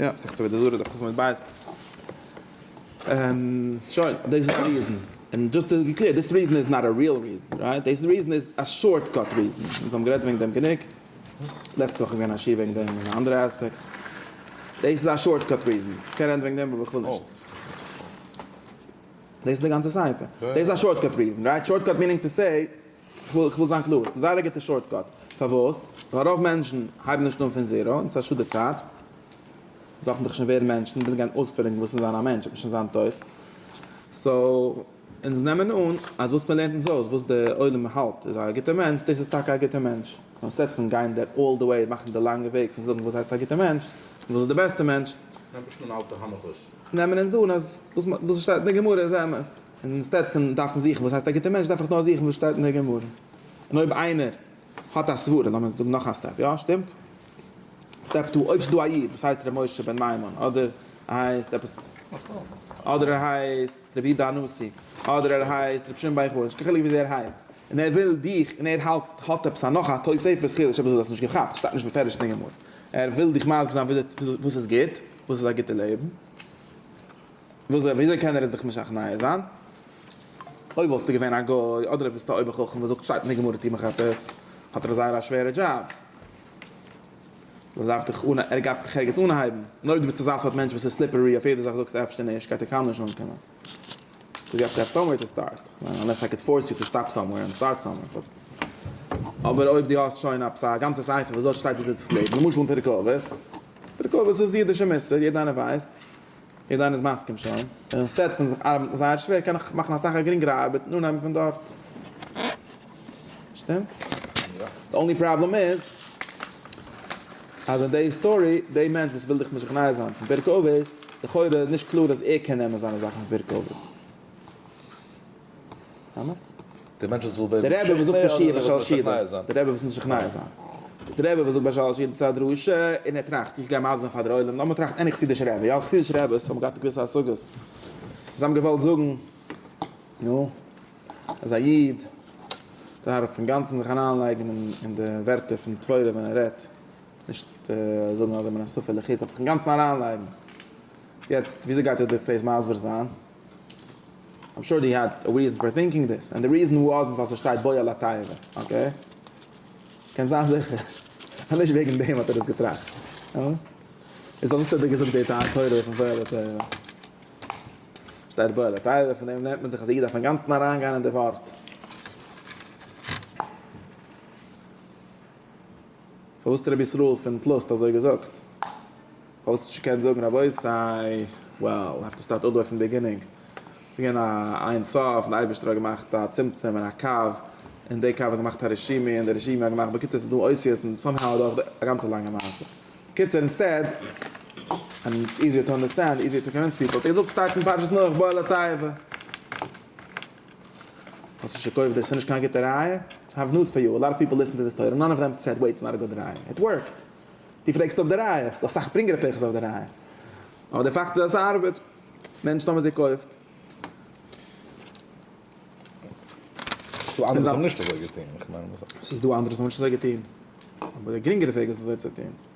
יא, מסכת עבודה זרה דף קמ עמוד ב'. שוין, דאס איז א ריזען. און דזשאסט טו בי קלעיר, דאס ריזען איז נאט א ריעל ריזען, רייט? דאס ריזען איז א שארט קאט ריזען. אונז האבן גערעדט וועגן דעם גענוג. לעצטע וואך איז געווען א שיעור וועגן דעם אין א אנדערע אספעקט. דאס איז א שארט קאט ריזען. איך קען רעדן וועגן דעם אבער איך וויל נישט. דאס איז די גאנצע ספר. דאס איז א שארט קאט ריזען, רייט? שארט קאט מינינג טו סעי, כ'וויל כ'וויל זיין קלאר, ס'איז זייער א גוטע שארטקאט. פארוואס? ווייל רוב מענטשן הייבן נישט אן פון זירא, און ס'איז א שאד די צייט. זיי האפן דאך שוין ווערן מענטשן, ביז גיין אויספרעגן וואס איז זיין א מענטש, אויב שוין זיין טויט. סאו, אונז נעמען אן אז וואס מ'לערנט אונז אויס, וואס די עולם האלט איז א גוטע מענטש, דאס איז טאקע א גוטע מענטש. אנשטאט פון גיין די אלל די וועי, מאכן די לאנגע וועג פון זאגן וואס הייסט א גוטע מענטש, און וואס איז די בעסטע מענטש. נעמט נישט אן אלטע הנחות. נעמען אונז אן אז וואס מ'האט וואס ס'שטייט אין די גמרא איז אמת. און אינסטעד פון דארפן זוכן וואס הייסט א גוטער מענטש דארף איך נאר זוכן וואס שטייט אין די גמרא. און אויב איינער האט א סברה, לאמיר זאגן נאך א סטעפ, יא שטימט? סטעפ טו, אויב ס'איז דא א איד וואס הייסט ר' משה בן מימון, אדער ער הייסט עפעס, אדער ער הייסט רבי איד אנוסי, אדער ער הייסט רבי שמעון בר יוחאי, נישט קיין חילוק וויאזוי ער הייסט, און ער וויל דיך, און ער האלט האט עפעס א נאך א תוספות חידוש עפעס וואס דו האסט נישט געכאפט, שטייט נישט בפירוש אין די גמרא, ער וויל דיך מסביר זיין וואס איז גוט, וואס איז א גוטע לעבן. וואס זיי וויאזוי קען ער עס דיך משכנע זיין? אויב וואלסטו געווען א גוי אדער אויב ביסטו א אויבער חכם וואס זאגט שטייט אין די גמרא טו מיך עפעס, האט ער זייער א שווערע דזשאב, ער דארף דיך אן ער גייט דיך ערגעץ אנהייבן, און אויב דו ביסט אזא סארט מענטש וואס איז סליפערי אויף יעדע זאך זאגסטו אפשר נישט גייט ער קיינמאל נישט אנקומען, קאוז יו העוו טו העוו סאמווער טו סטארט, אנלעס איי קען פארס יו טו סטאפ סאמווער און סטארט סאמווער, באט אבער אויב דו האסט שוין עפעס א גאנצע ספר וואס דארט שטייט וויאזוי דאס לעבן, למשל אין פרק אבות, פרק אבות איז די אידישע מוסר יעדע איינער ווייסט, יעדער איינער איז מסכים שוין. אינסטעד פון זיך ארבעטן זייער שווער קען איך מאכן אסאך א גרינגערע ארבעט און אנהייבן פון דארט. שטימט? די אנלי פראבלעם איז אז אין די היסטארי די מענטש וואס וויל דיך משכנע זיין פון פרק אבות לכאורה איז נישט קלאר אז ער קען נעמען זיינע זאכן פון פרק אבות. אמת? די מענטש וואס וויל ווערן משכנע אדער די רבי וואס וויל משכנע זיין? די רבי וואס וויל משכנע זיין. די רבי וואס זאגט ביי שלש יעדן צד דרשה און ער טראכט איך גיי מזל זיין פאר דער עולם לאמיר טראכטן עני חסידישע רבי יא חסידישע רביס האבן געהאט געוויסע השגות זיי האבן געוואלט זאגן נו אז א איד דארף אינגאנצן זיך אריינלייגן אין די ווערטער פון תורה ווען ער רעדט נישט זאגן אז ער מן הסוף ער לחיטה אבער זיך אינגאנצן אריינלייגן יעצט וויאזוי גייט ער דאס מסביר זיין? איים שור דו האד א ריזען פאר טינקינג דעס ענד די ריזען וואזנט ווייל ס'שטייט בויע לאטייעווע אקעי קענסט זיין זיכער אז נישט וועגן דעם האט ער דאס געטראכט אמת איז וואס האט ער דיר געזאגט די תורה פון בויע לאטייעווע שטייט בויע לאטייעווע פון דעם לערנט מען זיך אז א איד דארף אינגאנצן אריין גיין אין די ווארט. פארוואס האט רבי ישראל פון טלוסט אזוי געזאגט? פארוואס האט נישט געקענט זאגן רבותי, וועל, האב טו סטארט אדער פון בעגינינג, ס'איז געווען א אין סוף און די אייבערשטער האט געמאכט א צמצום און א קו, און די קו האט געמאכט א רשימה און די רשימה האט געמאכט, בקיצור ס'איז דא אותיות און סאם האו אדורך די א גאנצע לאנגע מעשה. קיצור אינסטעד, און איז איזיער טו אנדערסטענד, איזיער טו קאווינס פיפל, טו זאגסט שטארק פון פרשת נח בא אל התיבה. האסט נישט געקויפט דאס איז נישט קיין גוטע ראיה? איי האוו ניוז פאר יו, א לאט אוו פיפל ליסטען טו דיס טויטעל נאן אוו דעם סעד ווייט איטס נאט א גוד ראיה, איט ווארקט! דו פרעגסט אפ די ראיה, ס'איז דא אסאך פרינגערע פירכות אויף די ראיה, אבער די פאקט איז אז ס'ארבעט, מענטשן האבן עס געקויפט. ס'איז דא אנדערע וואס האבן נישט אזוי געטון, איך מיין. ס'איז דא אנדערע וואס האבן נישט אזוי געטון, אבער די גרינגערע וועג איז אזוי צו טון.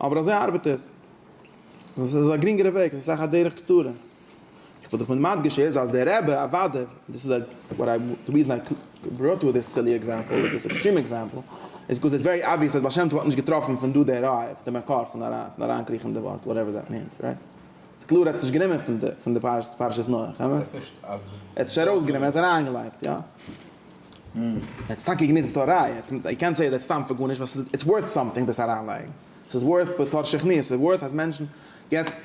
אבער אזוי ארבעט עס. עס איז א גרינגערע וועג, עס איז אסאך א דרך קצרה. איך וואלט זיך מיט מדגיש איז אז דער רבי אוודאי, און דאס איז וואט איי די ריזען איי בראט אויס דעס סילי עקזעמפעל, אדער דאס עקסטרים עקזעמפעל, איז ביקאוז איטס ווערי אבוויעס אז בעל שם טוב האט נישט געטראפן פון דא די ראיה אויף די מקור פון אריינקריכן די ווארט, וואטעווער דעט מינס, רייט? ס'איז קלאר ער האט עס נישט גענומען פון די פרשת נח, אמת? ער האט עס נישט ארויסגענומען, ער האט עס אריינגעלייגט, יא. עטס טאקע גענוצט בתור ראיה, יו קענט סעי דעט סתם פאר גארנישט ווייל ס'איז איטס ווארט סאמטינג דאס אריינלייגן, ס'איז ווארט בתור שכנוע, ס'איז ווארט אז מענטשן, יעצט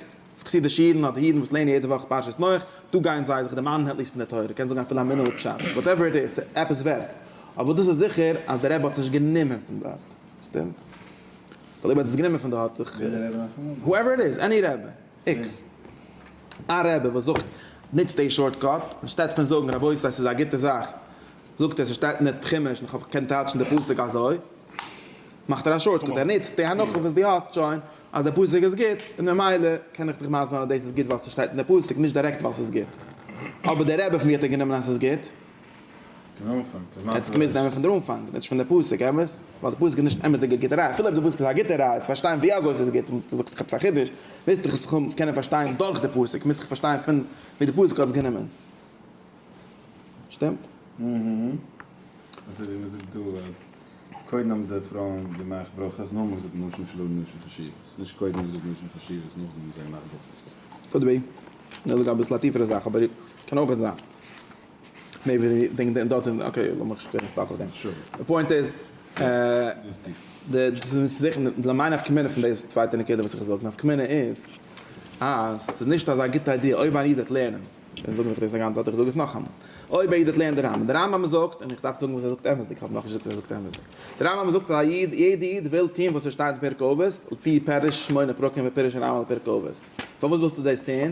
חסידישע אידן אדער אידן וואס לערנען יעדע וואך פרשת נח, דא גייען זיי זיך דערמאנען עטליסט פון די תורה, קען זאגן אפילו א מינוט פשט, וואטעווער איט איז, ס'איז עפעס ווערט. אבער דאס איז זיכער אז דער רבי האט עס נישט גענומען פון דארט, שטימט? ווייל אויב ער האט עס גענומען פון דארט, האט זיך, הועווער איט איז, עני רבי. איקס. א רבי וואס זאגט נוצט די שארט קאט, אנשטאט פון זאגן רבותי עס איז א גוטע זאך, זאגט ער ס'שטייט אין די חומש און כ'האב געקענט טייטשן די פסוק אזוי, מאכט ער א שארט קאט, ער נוצט די הנחה וואס דו האסט שוין אז די פסוק איז גוט און ממילא קען איך דיך מסביר זיין אז דאס איז גוט ווייל ס'שטייט אין די פסוק, נישט דירעקט ווייל ס'איז גוט. אבער דער רבי פון ווי האט ער גענומען אז ס'איז גוט? עטס געמוזט נעמען פון דער אנפאנג און נישט פון דער פסוק, אמת? ווייל דער פסוק איז נישט אמתדיגע גוטע ראי', אפילו אויב דער פסוק איז א גוטע ראי' צו פארשטיין ווי אזוי ס'איז גוט, און זאגסט איך האב עפעס א חידוש, מוזט איך עס קודם קענען פארשטיין דורך דער פסוק, מוזט איך פארשטיין פון ווי דער פסוק האט עס גענומען. שטימט? אזוי ווי מ'זאגט דא אז קודם האבן די פרויען געמאכט ברכות נאכדעם געזאגט נשים שלא לנשים חשיבות, נישט קודם געזאגט נשים חשיבות נאכדעם האבן זיי געמאכט ברכות. could be. כ'וויל זאגן אביסל א טיפערע זאך אבער קען אויכעט זיין. מער ווי די דינג דארט אין אקעי לאמיר נישט ווערן סטאק אויף דעם. די פוינט איז די מיין נפקא מינה פון די צווייטע נקודה וואס איך וויל זאגן נפקא מינה איז אז ס'איז נישט אזא גוטע איידיע אויב איין איד וועט לערנען און זאגן איך דאס אגאנצע צייט איך זאג עס נאכאמאל אויב א איד וועט לערנען די רמב ם די רמב ם זאגט און איך דארף זאגן וואס ער זאגט אמת'דיג כ'האב נאכנישט געזאגט וואס ער זאגט אמת'דיג די רמב ם זאגט א איד יעדע איד וויל טוהן וואס עס שטייט אין פרק אבות לפי פירוש שמונה פרקים ופירוש הרמב ם על פרק אבות פארוואס ווילסטו דאס טוהן?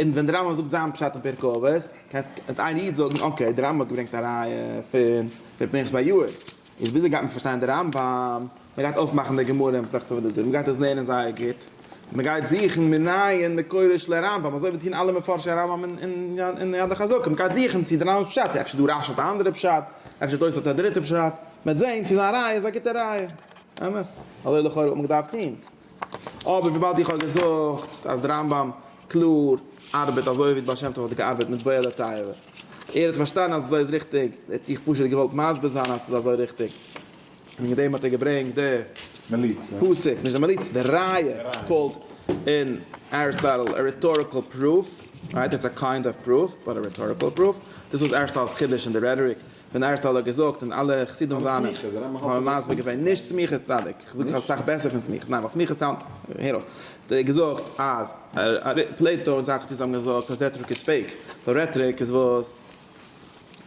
און ווען דער רמב ם זאגט זיין פשט אין פרק אבות, קענסט איין איד זאגן אקעי דער רמב ם האט געברענגט א ראיה פון ר' פנחס בר יואל, איז וויאזוי גייט מען פארשטיין דער רמב ם? מען גייט אויפמאכן די גמרא אין מסכת עבודה זרה, מען גייט עס לערנען זייער גוט, מען גייט זוכן מנין מקורו של הרמב ם, אזוי ווי טוהן אלע מפרשי הרמב ם אין יד החזקה, מען גייט זוכן צו דער רמב ם'ס פשט, אפשר דו רש י האט א אנדערע פשט, אפשר תוס' האט א דריטע פשט, מען וועט זעהן צו זיין ראיה איז א גוטע ראיה, אמת, אזוי לכאורה וואלט מען געדארפט טוהן. אבער וויבאלד איך האב געזאגט אז רמב ם קלאר ארבעט אזוי ווי די בעל שם טוב האט געארבעט מיט בוער לתאוה, ער האט פארשטאנען אז אזוי איז ריכטיג, האט איך פשוט געוואלט מסביר זיין אז ס'איז אזוי ריכטיג, און וועגן דעם האט ער געברענגט די פסק, נישט די מליצה, די ראיה, איטס קאלד אין אריסטאטל א רעטאריקעל פרוף, רייט? איטס א קיינד אוו פרוף, באט א רעטאריקעל פרוף, דאס איז אריסטאטל'ס חידוש אין די רעטאריק. ווען ערשט האט ער געזאגט און אלע חסידים זיינע האבן מסביר געווען נישט סמיכות צדיק, איך זאג אסאך בעסער פון סמיכות, ניין ווייל סמיכות סאונד, הער אויס, האט ער געזאגט אז פלעיטא און סאקרעטיס האבן געזאגט אז רעטאריק איז פעיק, ווייל רעטאריק איז וואס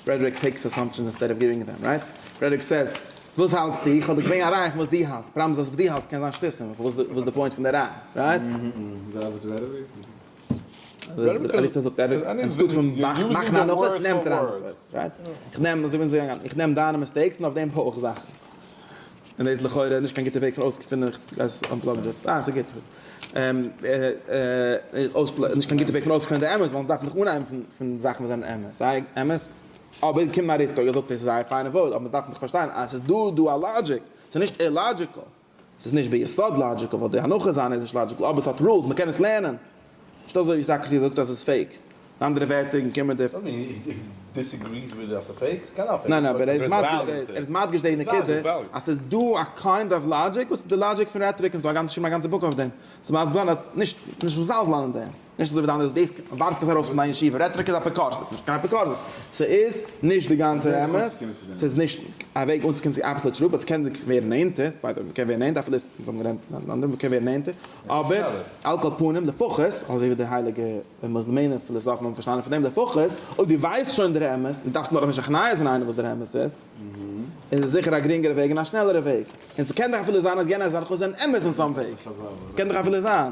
רעטאריק טעיקס אסאמפשענס אינסטעד אוו גיווינג דעם, רייט? רעטאריק סעיז וואס האלטסטו? איך האב דיר געברענגט א ראיה פון וואס דו האלטסט, פראבלעם איז אז וואס דו האלטסט קען זיין שטותים, וואס איז די פוינט פון די ראיה, רייט? איך נעם דאס ווארט איך נעם די מיסטעיקס און אויף דעם זאכן און דאס איז לכאורה נישט קיין גוטע וועג פון אויסגעפונען איך גייס אנפלאגן דאס אה ס'איז גוט נישט קיין גוטע וועג פון אויסגעפונען די אמת ווייל מ'דארף זיך אנהייבן פון זאכן וואס זענען אמת זיי אמת אבער קומט אריסטו און זאגט עס איז זייער פיינע ווארט אבער מ'דארף נאך פארשטיין אז ס'איז דא דא א לאגיק ס'איז נישט אילאגיקעל. ס'איז נישט ביסוד לאדזשיקל, ווייל די הנחה זיינע איז נישט לאדזשיקל, אבער ס'האט רולס, מ'קען עס לערנען. נישט אזוי ווי סאקרעטיס זאגט אז ס'איז פעיק. אין אנדערע ווערטער און קומען די. וואט דו דיסעגריס וויט די אז ס'איז פעיק? ס'קען זיין פעיק. ניין ניין אבער ער איז מדגיש דאס, ער איז מדגיש די נקודה אז ס'איז דא א קיינד אוו לאדזשיק וואס איז די לאדזשיק פון רעטאריק און ס'דא געשריבן א גאנצע בוק אויף דעם, צו מסביר זיין אז נישט, נישט מזלזל אין דעם. נישט אזוי ווי די אנדערע, דאס ווארפט עס ארויס פון דיין ישיבה, רעטאריק איז אפיקורסות, ס'איז נישט קיין אפיקורסות, ס'איז נישט די גאנצער אמת, ס'איז נישט א וועג אנצוקומען צו אבסאלוט טרוט, באט ס'קען זיך ווערן נענטער, ביי די וועי, מ'קען ווערן נענטער, אפילו אונז האבן געלערנט אן אנדערע, מ'קען ווערן נענטער, אבער על כל פנים, לפחות, אזוי ווי די הייליגע מוסלמענער פילאזאפן האבן פארשטאנען פון דעם, לפחות, אויב דו ווייסט שוין דער אמת, און דו דארפסט נאך נישט הכנעה זיין איינעם וואס דער אמת איז, איז עס זיכער א גרינגערע וועג און א שנעלערע וועג, און ס'קען דאך אפילו זיין אז יענער זאכן זענען אמת אין סאם וועי, ס'קען דאך אפילו זיין.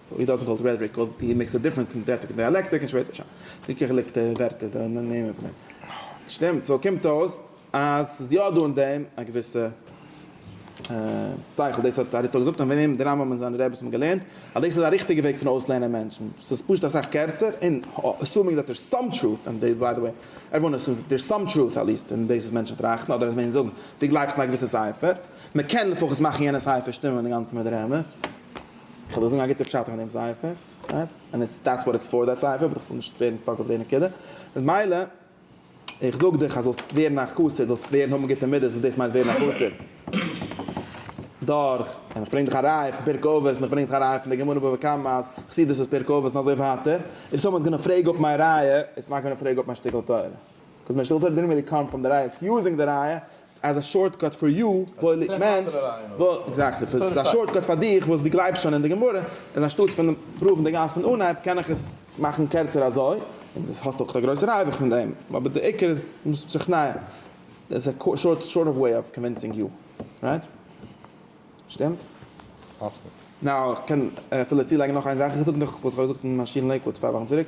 ווי דארט קאלט רעטאריק קאוז די מעקסט א דיפרענס אין דעפט און דיאלעקטיק און שפעטער שוין די געחילקטע ווערטער די נעמען פון דעם שטימט סאו קומט אויס אז ס'איז יא דא אין דעם א געוויסע שכל דאס האט אריסטו געזאגט און פון אים די רמב ם און זיינע רעביס האבן געלערנט אז דאס איז א ריכטיגע וועג פון אויסלערנען מענטשן ס'איז פשוט אסאך קערצער און עסומינג דעט דער'ס סאם טרוט אין דעס ביי די וועי עוועריוואן עסומס דעט דער'ס סאם טרוט עטליעסט אין דאס וואס מענטשן טראכטן אדער אז מענטשן זאגן דו גלייבסט אין א געוויסע ספר מ'קען לפחות מאכן יענע ספר שטימען אינגאנצן מיט די רמז. איך וועל דיר זאגן א גוטע פשט פון דעם ספר, רייט? ענד איטס דעטס וואט איטס פאר דעט ספר, באט איך וויל נישט ווערן סטאק אויף די נקודה. ממילא, איך זאג דיך אז זאלסט ווערן א חסיד, זאלסט ווערן האבן גוטע מידות, וואס דאס מיינט ווערן א חסיד, דורך, און איך ברענג דיך א ראיה פון פרק אבות, און איך ברענג דיך א ראיה פון די גמרא בבא קמא אז חסידות איז פרק אבות און אזוי ווייטער, איף סאמאן איז גאנא פרעיג אפ מיי ראיה, איטס נאט גאנא פרעיג אפ מיין שטיקל תורה. קאז מיין שטיקל תורה דידנט ריעלי קאם פראם די ראיה, איטס יוזינג די ראיה, אז א שארטקאט פאר יו וואלט נישט געמיינט וואלט עקזעקטלי פאר ס'איז א שארטקאט פאר דיך וואס דו גלייבסט שוין אין די גמרא איז אנשטאטס פון פראוון די גמ' פון אנהייב קען איך עס מאכן קערצער אזוי און דאס האסט אויך א גרויסע ריווח פון דעם אבער די עיקר איז מוזט משכנע איז א שארט שארט אוו וועי אוו קאנווינסינג יו רייט? שטימט? פאסיבעל. נאו איך קען אפילו צולייגן נאך איין זאך איך זאג נאך וואס איך האב געזאגט אין מיין שטיבל אין לעיקוואד צוויי וואכן צוריק.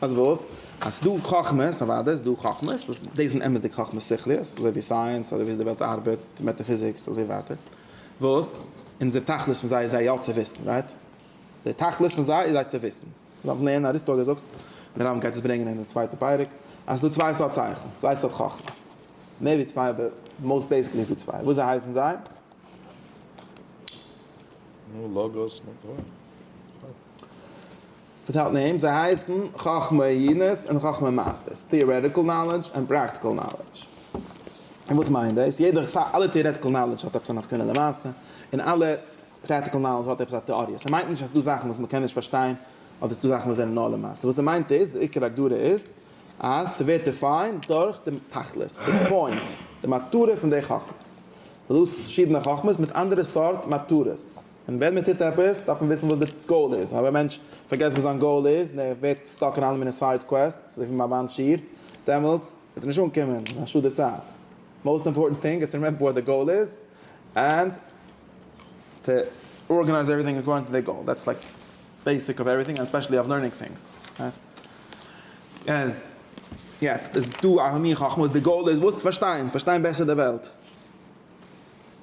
אז וואס? אז ס'דא חכמות, אוודאי איז דא חכמות, וואס דאס זענען אמת'דיגע חכמות שכליות, אזוי ווי סייענס, אדער וויאזוי די וועלט ארבעט, מעטאפיזיקס, אזוי ווייטער, וואס אונזער תכלית פון זיי איז זיי יא צו וויסן, רייט? דער תכלית פון זיי איז זיי צו וויסן. דארף לערנען אריסטו האט געזאגט, דער רמב ם גייט עס ברענגען אין די צווייטע פרק, אז ס'דא צוויי סארט שכל, צוויי סארט חכמה. מער ווי צוויי אבער מאוסט בעיסיקלי איז דא צוויי. וויאזוי הייסן זיי? נו, לאגוס מיט הויך. פארטיילט נעימס, זיי הייסן, חכמי עינות און חכמי מעשות, טעארעטיקל נאלעדזש און פראקטיקל נאלעדזש. און וואס מיינט דאס? יעדער, סא אלע טעארעטיקל נאלעדזש האט עפעס א נפקא מינה למעשה, און אלע פראטיקל נאלעדזש האט עפעס א טעאריע. ס'מיינט נישט אז ס'דא זאכן וואס מ'קען נישט פארשטיין, אדער ס'דא זאכן וואס זענען נאר למעשה. וואס ס'מיינט איז, די עיקר הגדרה איז, אז ס'ווערט דיפיינד דורך די תכלית, די פוינט, די מטרה פון די חכמות. ס'דא פארשידענע חכמות מיט אנדערע סארט מטרות. און ווען מען טוט עפעס דארף מען וויסן וואס די גאול איז, אויב א מענטש פארגעסט וואס זיין גאול איז און ער ווערט סטאק אין אלע מיני סייד קוועסטס אזוי ווי מיין באן שיר, דעמאלטס וועט ער נישט אנקומען, איז א שאד די צייט, מאוסט אימפארטענט טינג איז טו רימעמבער וואט די גאול איז ענד טו ארגענייז עווריטינג אקארדינג טו די גאול, דעטס לייק בעיסיק אוו עווריטינג ענד ספעשעלי אוו לערנינג טינגס. יעצט איז דא א מין חכמה וואס די גאול איז וואס? פארשטיין, פארשטיין בעסער די וועלט.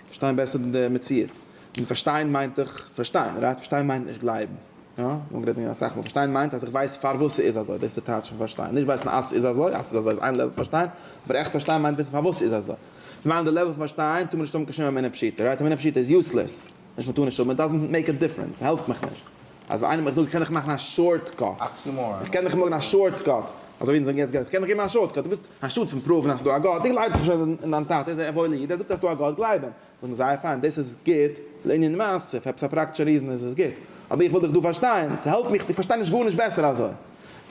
פארשטיין בעסער די מציאות. און פארשטיין מיינט דאך פארשטיין, רייט? פארשטיין מיינט נישט גלייבן. יא? מיר האבן גערעדט וועגן דעם אסאך מאל. פארשטיין מיינט אז איך ווייס פארוואס ס'איז אזוי. דאס איז די טייטש פון פארשטיין. נישט ווייסן אז ס'איז אזוי. אז ס'איז אזוי איז איין לעוול פון פארשטיין. אבער עכט פארשטיין מיינט וויסן פארוואס ס'איז אזוי. און ווען די לעוול פון פארשטיין טאר מען נישט האבן קיין שום אמונה פשוטה. רייט? אמונה פשוטה איז יוסלעס. נישט מ'טאר נישט האבן, איט דאזענט מעיק א דיפרענס, ס'העלפט מיך נישט. אז איינער מיך זאגט, קען איך מאכן א שארט קאט? איך קען דאך מאכן א שארט קאט, אזוי ווי אונז זאגן יעצט געלט, קען איך געבן א שארט קאט, דו ווילסט, אנשטאט פון פראוון אז ס'איז דא א גאט, דו גלייבסט דאך שוין אין דיין טאטע, ער איז א וואוילע איד, ער זאגט אז ס'איז דא א גאט, גלייב אים. זאג מיר, זייער פיין, דאס איז גוט לענין מעשה, אויף עפעס א פראקטישע ריזען איז עס גוט, אבער איך וויל דיך דא פארשטיין, ס'העלפט מיך, איך פארשטיי נישט גארנישט בעסער אזוי.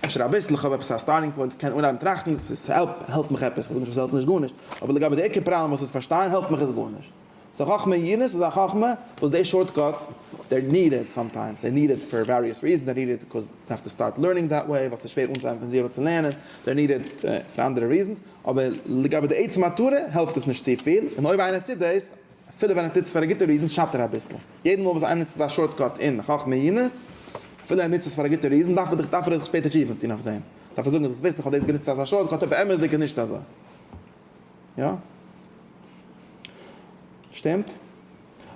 אפשר אביסל, איך האב עפעס א סטארטינג פוינט, איך קען אנהייבן טראכטן, ס'העלפט מיך עפעס, כ'זאג נישט אז ס'העלפט נישט גארנישט, אבער לגבי די עיקר פראבלעם וואס איז פארשטיין, העלפט מיך עס גארנישט. סאו חכמה אין יענס איז א חכמה וואס די שארטקאטס דער ניד איט סאמטיימס דער ניד איט פאר וועריעס ריזענס דער ניד איט ביקאוז די האסט טו סטארט לערנינג דעט וועי ווייל ס'איז שווער אנצוהייבן פון זירא צו לערנען דער ניד איט פאר אנדערע ריזענס אבער לגבי די עצם מטרה העלפט עס נישט צופיל און אויב איינער טוט דאס אפילו ווען ער טוט עס פאר א גוטע ריזען שאדט ער אביסל יעדן מאל וואס איינער נוצט אזא שארטקאט אין חכמה אין יענס אפילו ער נוצט עס פאר א גוטע ריזען דארף ער דיך דארף ער דיך שפעטער טשעפען טון אויף דעם דארף ער זאגן אז וויסט איך האב דאס גענוצט אלס א שארטקאט אבער באמת איז די נישט אזוי. יא? שטימט?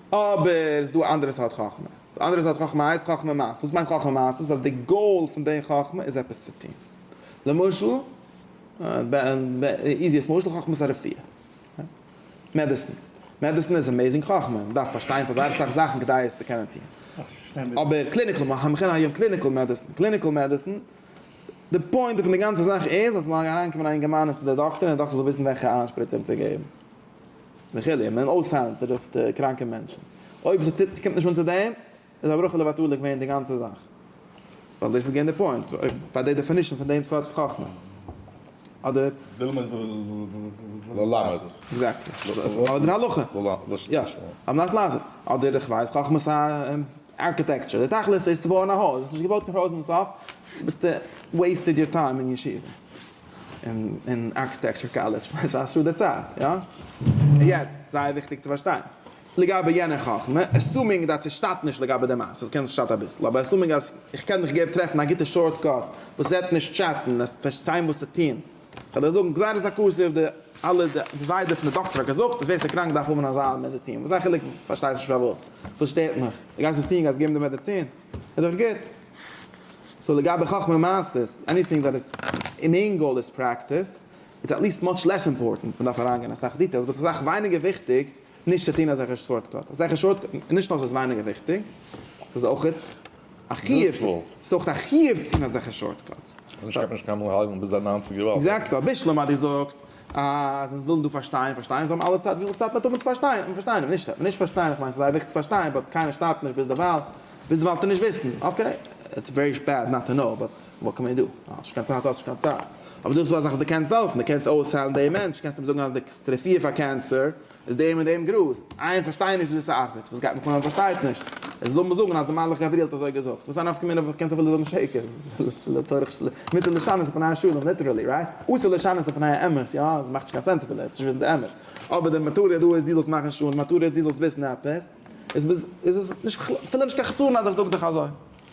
אבער ס'איז דא א אנדערע סארט חכמה. די אנדערע סארט חכמה הייסט חכמה מעשית. וואס מיינט חכמה מעשית? אז די גאול פון די חכמה איז עפעס צו טון. למשל, איזיעסט משל, חכמת הרפואה. מעדעסין. מעדעסין איז עמעזינג חכמה. מ'דארף פארשטיין פאר זייער אסאך זאכן כדי עס צו קענען טון. אבער קליניקל, המכונה היום קליניקל מעדעסין. קליניקל מעדעסין די פוינט פון די גאנצע זאך איז אז מ'מאג אריינקומען א אינגערמאן און צו די דאקטער און די דאקטער זאל וויסן וועלכע איין שפריץ אים צו געבן וכו' און מען אויסהיילן תרופות קראנקע מענטשן. אויב ס'טוט קומט נישט אן צו דעם איז א ברכה לבטלה געווען די גאנצע זאך. ווייל דאס איז געווען די פוינט ביי די דעפינישן פון דעם סארט חכמה. אדער. ללמד ללמד. עקזעקטלי. אדער הלכה. יא. על מנת לעשות. אדער איך ווייס חכמת הארכיטעקטשור. די תכלית איז צו בויען א הויז. עס איז נישט געבויט קיין הויז אין סוף. ביסטע וועיסטעד יור טיים אין ישיבה און אין ארקיטעקטשור קאלעדזש, סאיז א שאדע צייט, יא? און יעצט, זייער וויכטיג צו פארשטיין, לגבי יענער חכמה, עסומינג דעט עס שטאט נישט לגבי די מעשה, סקען זיך שטאט אביסל, אבער עסומינג אז איך קען מיך געב טרעפן א גוטע שארט קאט וואס זעט נישט טשעטן, עס פארשטיין וואס צו טון, כ'וועל דיר זאגן גזירת הכסף, די אלע די זיידע פון די דאקטער האט געזאגט אז ווער ס'איז קראנק דארף האבן אזא מעדעצין, וואס איז א חילוק, פארשטייסט נישט פארוואס, וואס שטערט מיך, די גייסט עס טון, גייסט געבן די מעדעצין, איז דאך גוט. סאו לגבי חכמה מעשית, עניטינג דעט איז אין ענד גאול איז פרעקטיס, איטס עטליעסט מאטש לעס אימפארטענט, מ'דארף אריינגיין אסאך דיטעילס, באט ס'איז ווייניגער וויכטיג נישט צו טון אזעלכע שארטקאטס, אזעלכע שארטקאטס, נישט נאר ס'איז ווייניגער וויכטיג, ס'איז אויכעט א חיוב, ס'איז אויכעט א חיוב צו טון אזעלכע שארטקאטס. און איך קען נישט קיינמאל האלטן ביז די ניינציגער וואך. עקזעקטלי, אביסלע מאדי זאגט אז אונז ווילן דא פארשטיין, פארשטיין, זאל מען אלע צייט, וויפיל צייט מען האט אונבער צו פארשטיין, אונז פארשטיין אונבער, נישט אז מען נישט פארשטיין, איך מיין ס'איז אייביג צו פארשטיין, באט קיינער שטארבט נישט ביזדערווייל, ביזדערווייל טו נישט וויסן, אקעי, איטס ווערי בעד נאט טו נאו, באט וואט קען מען דו, האסט נישט קיין צייט האסט נישט קיין צייט, אבער דא איז דא אזאך וואס דו קענסט העלפן, דו קענסט אויסהיילן דעם מענטש, קענסט אים זאגן אז דו קענסט טרעפיע פאר קענסער. איז דעם און דעם גראז. איי איך פארשטיי נישט וויאזוי ס'ארבעט. וואס גייט מיך אן אז מ'פארשטייט נישט? עס זאל מיר זאגן אז דער מלאך גבריאל האט אזוי געזאגט. וואס איז א נפקא מינה וואס קענסט אפילו זאגן שקר? ס'איז לצורך מיטל לשנות פני השלום, ליטערעלי, רייט? אסור לשנות פני האמת, יא? עס מאכט נישט קיין סענס אפילו, עס איז נישט וויסן די אמת. אבער די מטרה דא איז דו זאלסט מאכן שלום, די מטרה איז דו זאלסט וויסן עפעס. איז עס נישט אפילו נישט קיין חסרון אז איך זאג דיך אזוי.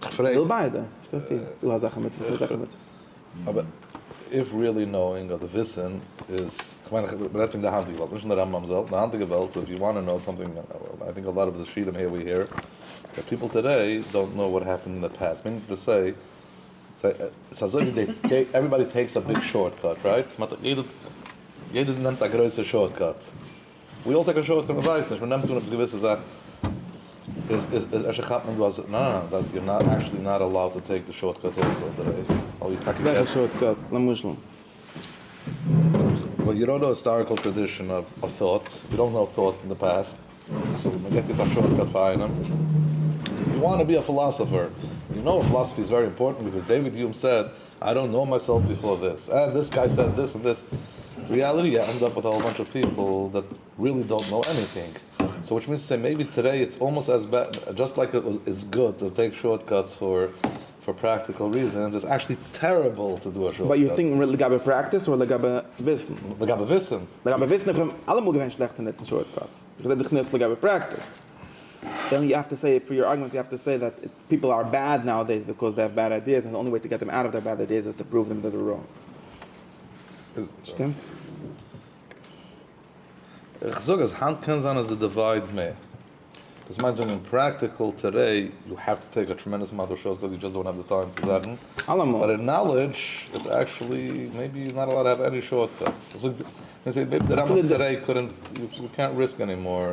כ'פרעג. מ'וויל ביידע. נישט קיין סתירה. ס'איז דא אזעלכע מצוות און אזעלכע מצוות. אבער איף ריעלי נאואינג אדער וויסען איז, כ'מיין איך רעד פון די היינטיגע וועלט נישט אין די רמב ם זעלט, אין די היינטיגע וועלט איף יו וואנט נאו סאמטינג איי טינק א לאט אוו די שיטים העיר ווי העיר דעט פיפל טודעי דאנט נאו וואט העפענד אין די פאסט מינינג טו סעי ס'איז אזוי ווי דעי עוועריבאדי טעיקס א ביג שארט קאט רייט? יעדער נעמט א גרויסע שארט קאט. ווי אויך די קאשוי האט געוואלט ווייס נישט מען נעמט אן עפעס געוויסע זאכן איז איז איז אפשר כאפט מען דא אז ניין ניין דאט יור נאט עקשעלי נאט אלאוד טו טעיק די שארט קאטס אלזא אויף די ראוד ווייל איר טאקע וועלכע שארט קאטס למשל? ווייל יור אן היסטאריקעל טראדישען אוו טאט יור דאנט נאו טאט פון די פעסט סאו מען געט יעצט א שארט קאט פאר איינעם יו וואנט טו בי א פילאסאפער יו נאו פילאסאפי איז ווערי אימפארטענט ביקאוז דעיוויד יום סעד איי דאנט קנאו מייסעלף ביפאר דיס, אה דיס גיי סעד דיס און דיס, ריעליטי יו ענד אפ וויט א האול באנטש אוו פיפל דעט ריעלי דאנט קנאו עניטינג, סאו וויטש מינס טו סעי מעיבי טאדעי איטס אלמאסט עז בעד, דזשאסט לייק איטס גוד טו טעיק שארט קאטס פאר פאר פראקטיקעל ריזענס איטס עקשעלי טעריבל טו דו א שארט קאט. ביי יו טינק לגבי פרעקטיס אדער לגבי וויסן? לגבי וויסן. לגבי וויסן האב איך אלעמאל געווען שלעכט אין נוצן שארט קאטס, איך רעד דיך נאר יעצט לגבי פרעקטיס. דען יו האוו טו סעי פאר יור ארגומענט יו האוו טו סעי דעט פיפל אר בעד נאו-עדעיס ביזקאוז זיי האוו בעד איידיעס און די אנלי וועי טו געט דעם אוט אוו דער בעד איידיעס איז טו פראוו דעם דעט זיי אר ראנג. שטימט? איך זאג אז היינט קען זיין אז די דיווייד מער. דאס מיינט זאגן אין פראקטיקל טערי יו האוו טו טעיק א טרעמענדעס אמאונט אוו שאוס ביז יו דזשאסט דאונט האוו די טיים צו זאגן. אלעמאל. באט אין נאלעדזש איטס עקשעלי מעיבי יו נאט אלאוד טו האוו עני שארטקאטס. איך זאג די. מען זעט מעיבי די רמב ם טערי קאנט יו קענט ריסק ענימאר.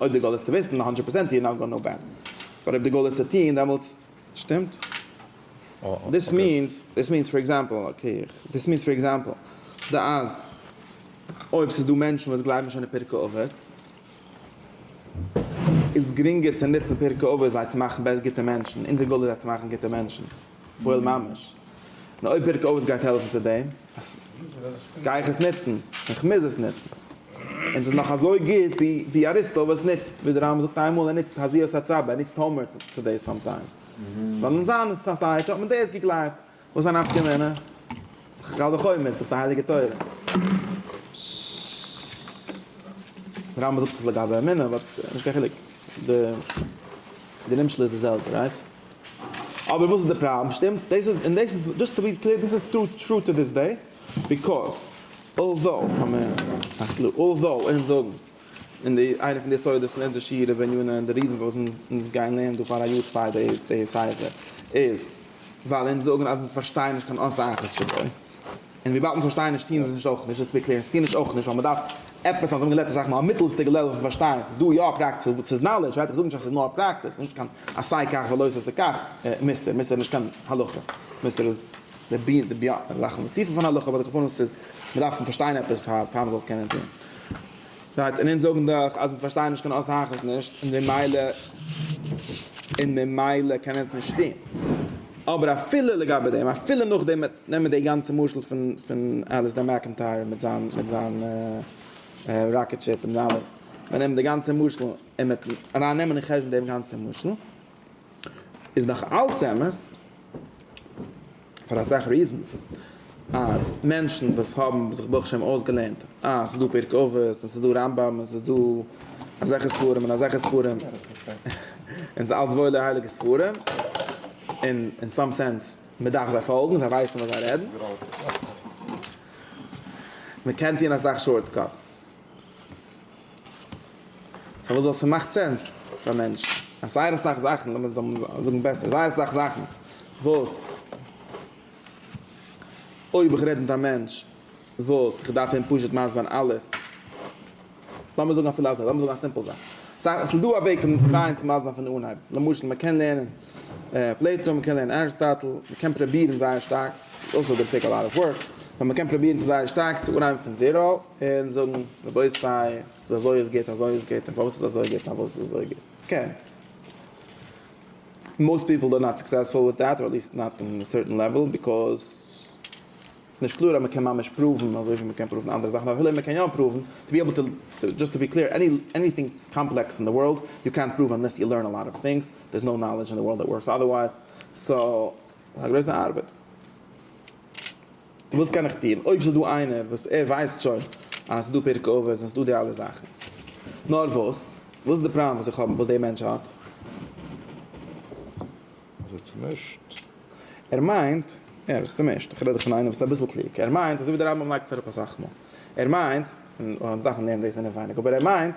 אויב די גאול איז צו וויסן הונדרעט פראצענט יהיה נאו גאוד נאו בעד, באט אויב די גאול איז צו טוהן דעמאלטס שטימט דיס מיענס דיס מיענס פאר עקזעמפל אקעי דיס מיענס פאר עקזעמפל די אז אויב ס'איז דא מענטשן וואס גלייבן שוין אין פרקי אבות איז גרינגער צו נוצן פרקי אבות זיי צו מאכן בעסט גוטע מענטשן אונזער גאול איז זיי צו מאכן גוטע מענטשן. פוהל ממש. און אויב פרק אבות גייט העלפן צו דעם, אז גיי איך עס נוצן, און כ'מוז עס נוצן, און ס'איז נאך אזוי גוט ווי אריסטו עס נוצט, ווי די רמב ם זאגט איינמאל ער נוצט הזיות הצב ע, ער נוצט הומאר צו דאס סאמטיימס, ווייל אין זיין סאסייעטי האט מען דאס געגלייבט, וואס א נפקא מינה? ס'איז קל וחומר, ס'איז דאך די הייליגע תורה. די רמב ם זאגט עס לגבי אמונה, באט נישט קיין חילוק, די נמשל איז די זעלבע, רייט? אבער וואס איז די פראבלעם? שטימט? דאס איז, און דאס איז, דזשאסט טו בי קלער, דאס איז טרו טרו טו דיס דעי, ביקאויז אלזאו, לאמיר פארקלארן, אלזאו אונז זאגן אין די איינע פון די יסודות פון אונזער שיעור איבער יונה און די ריזען פארוואס אונז אונז גייען לערנען דא פאר א יאר צוויי די די ספר איז ווייל אונז זאגן אז אונז פארשטייען נישט קיין אסאך עס שבו. און וויבאלד אונז פארשטייען נישט טוען אונז עס נישט אויך נישט רעספעקטירן אונז טוען נישט אויך נישט ווייל מען דארף עפעס אז האבן געלערנט אסאך מאל א מיטלסטיגע לעוועל פון פארשטיין ס'איז דא יא פראקטיס אבער ס'איז נאלעדזש ווייטער זאג נישט אז ס'איז נאר פראקטיס ס'איז נישט קיין עשה כך ולא תעשה כך מוסר מוסר איז נישט קיין הלכה מוסר איז די בי די ביאן זאכן די טיפע פון הלכה אבער די קאמפאונענטס איז מען דארף פארשטיין עפעס פאר פאר מען זאל עס קענען טון. רייט, און אונז זאגן דאך אז אונז פארשטייען נישט קיין עושה אחת נישט, און ממילא און ממילא קען אונז נישט טון. אבער אפילו לגבי דעם, אפילו נאכדעם נעמען מיר די גאנצע משל פון פון אליסדער מעקענטייער מיט זיין מיט זיין ראקעט שיפ און אלעס, מיר נעמען די גאנצע משל און מיטן אריין נעמען אין חשבון דעם גאנצע משל, איז נאך אלץ אמת, פאר אסאך ריזענס, אז מענטשן וואס האבן זיך ברוך השם אויסגעלערנט אז ס'איז דא פרק אבות און ס'איז דא רמב ם און ס'איז דא אזעלכע ספרים און אזעלכע ספרים, און ס'איז אלץ וואוילע הייליגע ספרים, און אין סאם סענס, מ'דארף זיי פאלגן, זיי ווייסן וואס זיי רעדן. מ'קען טון אסאך שארטקאטס. פארוואס זאל עס מאכט סענס פאר מענטשן אז זייער אסאך זאכן לאמיר זאגן בעסער זייער אסאך זאכן וואס אויב איך רעד מיט א מענטש וואס איך דארף אים פשוט מסבר'ן אלעס לאמיר זאגן אפילו אזוי לאמיר זאגן א סימפל זאך סא עס איז דא א וועג פון טרייען צו מסבר'ן פון אנהייב למשל מען קען לערנען פלעיטא מען קען לערנען ארסטאטל מען קען פרובירן זייער שטארק ס'איז אויסער די פיק א לאט אוו ווארק באט מען קען פרובירן צו זייער שטארק צו אנהייבן פון זיראו. און זאגן רבותי ס'איז אזוי עס גוט אזוי עס גוט און פארוואס איז אזוי גוט פארוואס איז אזוי גוט קען מאוסט פיפל דאר נאט סוקסעספול וויט דעט אדער עטליסט נאט אין א סערטען לעוועל ביקאוז נישט קלאר אז מ'קען ממש פראוון אזוי ווי מ'קען פראוון אנדערע זאכן אפילו מ'קען יא פראוון טו בי עבל טו דזשאסט טו בי קלער עני עניטינג קאמפלעקס אין די ווארלד יו קענט פראוו אנלעס יו לערן א לאט אוו טינגס דער איז נאו נאלעדזש אין די ווארלד דעט ווארקס אדערווייז סאו ס'איז א גרויסע ארבעט. וואס קען איך טון אויב ס'איז דא איינער וואס ער ווייסט שוין אז ס'איז דא פרק אבות און ס'איז דא די אלע זאכן, נאר וואס, וואס איז די פראבלעם וואס איך האב, וואס דער מענטש האט? אז ער איז צומישט. ער מיינט, יא ער איז צומישט, איך רעד דאך פון איינער וואס איז אביסל קלוג, ער מיינט אזוי ווי דער רמב ם לייגט עס אראפ אסאך מאל, ער מיינט, און אונז דארפן לערנען דאס אינעווייניג, אבער ער מיינט,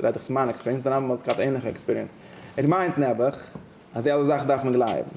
רעד איך פון מיין עקספיריענס, דער רמב ם האט געהאט ענליכע עקספיריענס, ער מיינט נעבעך אז די אלע זאכן דארף מען גלייבן.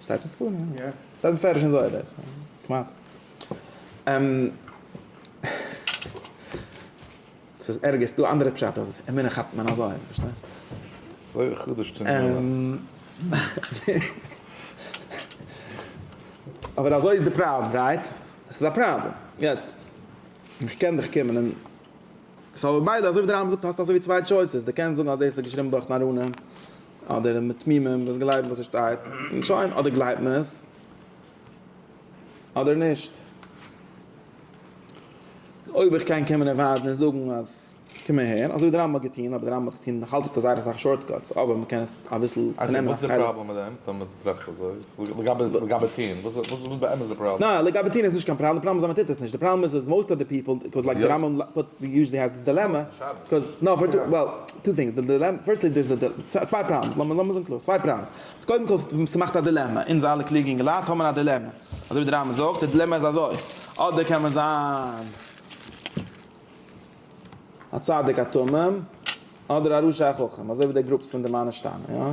שטייט אין ספרים, יא. שטייט מפרש אין זוהר דאס. כמעט. ס'איז ערגער, ס'דא אנדערע פשט אז אמונה כאפט מען אזוי, פארשטייסט? אזוי חדש צום גמרא. אבער אזוי איז די פראבלעם, רייט? עס איז א פראבלעם. יעצט, איך קען דיך קומען און. סאו ביידע, אזוי ווי דער רמב ם זאגט, האסט אזוי ווי צוויי טשויסעס, דו קענסט זאגן אז דאס איז געשריבן דורך נאראנים. אדער מתמימים וואס גלייבן וואס עס שטייט, און שוין, אדער גלייבט מען עס אדער נישט. אויב איך קען קען מען ערווארטן און זאגן אז קום אהער, אזוי ווי דער רמב ם האט געטון, אבער דער רמב ם האט געטון נאכאלץ אויף זייער אסאך שארטקאטס, אבער מען קען עס אביסל צונעמען. אזוי וואס איז די פראבלעם מיט דעם, טאמער טראכט אזוי? לגבי לגבי טין וואס וואס איז באמת די פראבלעם? ניין לגבי טין איז נישט קיין פראבלעם די פראבלעם איז אז מען טוט עס נישט די פראבלעם איז אז מאוסט אוו די פיפעל קאוז לייק די רמב ם פוט יוזשעלי העז די דילעמע קאוז נאו פאר טו וועל טו טינגס די דילעמע פירסטלי דער איז א צוויי פראבלעמס לאמיר לאמיר זאגן קלאר צוויי פראבלעמס קודם כל ס'מאכט א דילעמע אונז אלע קלוגע אינגעלייט האבן א דילעמע אזוי ווי די רמב ם זאגט די דילעמע איז אזוי אדער קען מען זיין א צדיק א תמים אדער א רשע א חכם אזוי ווי די גרופס פון די מיינע שטאמען יא.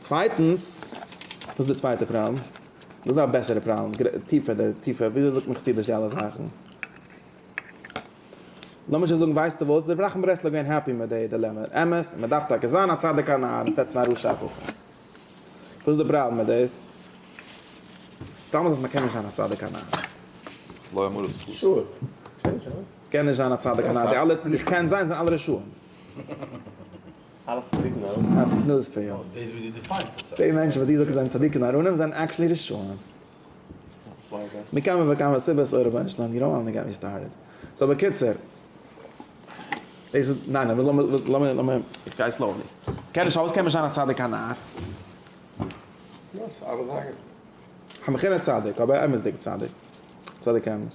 צווייטנס, וואס איז די צווייטע פראבלעם? וואס איז א בעסערע פראבלעם? טיפער די טיפער, וויאזוי זאגט מען חסידיש די אלע זאכן? לאמיר שוין זאגן, ווייסטו וואס? איז רבי נחמן ברסלב געווען העפי מיט די דילעמע? אמת, מען דארף טאקע זיין א צדיק א נאר, עס רעדט פון א רשע א כופר. וואס איז די פראבלעם מיט דאס? פראבלעם איז אז מען קען נישט זיין א צדיק א נאר. לא יאמרו את חז ל. קען נישט זיין א צדיק א נאר, די אלע וואס קען זיין זענען אלע רשעים. אפיק נאר ספעיל. די מענטשן וואס דו זאגסט זענען צדיקים און ארונים זענען עקשעלי רשעים. מכמה וכמה סיבות אוי רבונו של עולם יו דאנט געט מי סטארטעד. סאו בקיצור. דאס איז ניין אבער לאמיר לאמיר איך גיי סלאולי. קען נישט אויסקען נישט זיין א צדיק א נאר. יא ס'ארבעט זייער גוט. א מכינה צדיק אבער אמת'דיגע צדיק. צדיק אמת.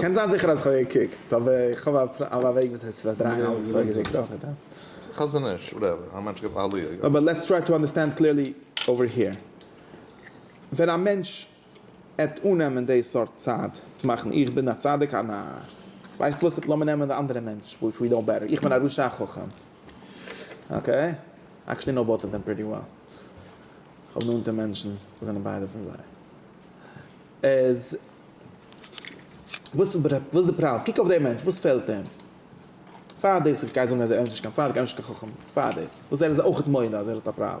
קען זיין זיכער אז כ'האב געקוקט אבער איך האב א וועג וויאזוי צו פארדרייען אלעס וואס איך האב געזעהן. אבער לעטס טריי טו אנדערסטענד קליערלי אווער היער. ווען א מענטש עט אננעמען די סארט צד מאכן איך בין א צדיק א נאר. ווייסט וואס לאמיר נעמען די אנדערע מענטש וויטש ווי נאו בעטער איך בין א רשע א חכם. אקעי עקשעלי נאו באטס אוו דעם פריטי וועל. כ'האב נאנטע מענטשן וואס זענען ביידע פון זיי. איז וואס איז די פראבלעם? קוק אויף דעם מענטש, וואס פעלט אים? פאר דאס איך גיי זאגן אז ער איז נישט קיין צדיק, ער איז נישט קיין חכם, פאר דאס, וואס ער איז אויכעט מודה אז ער האט א פראבלעם.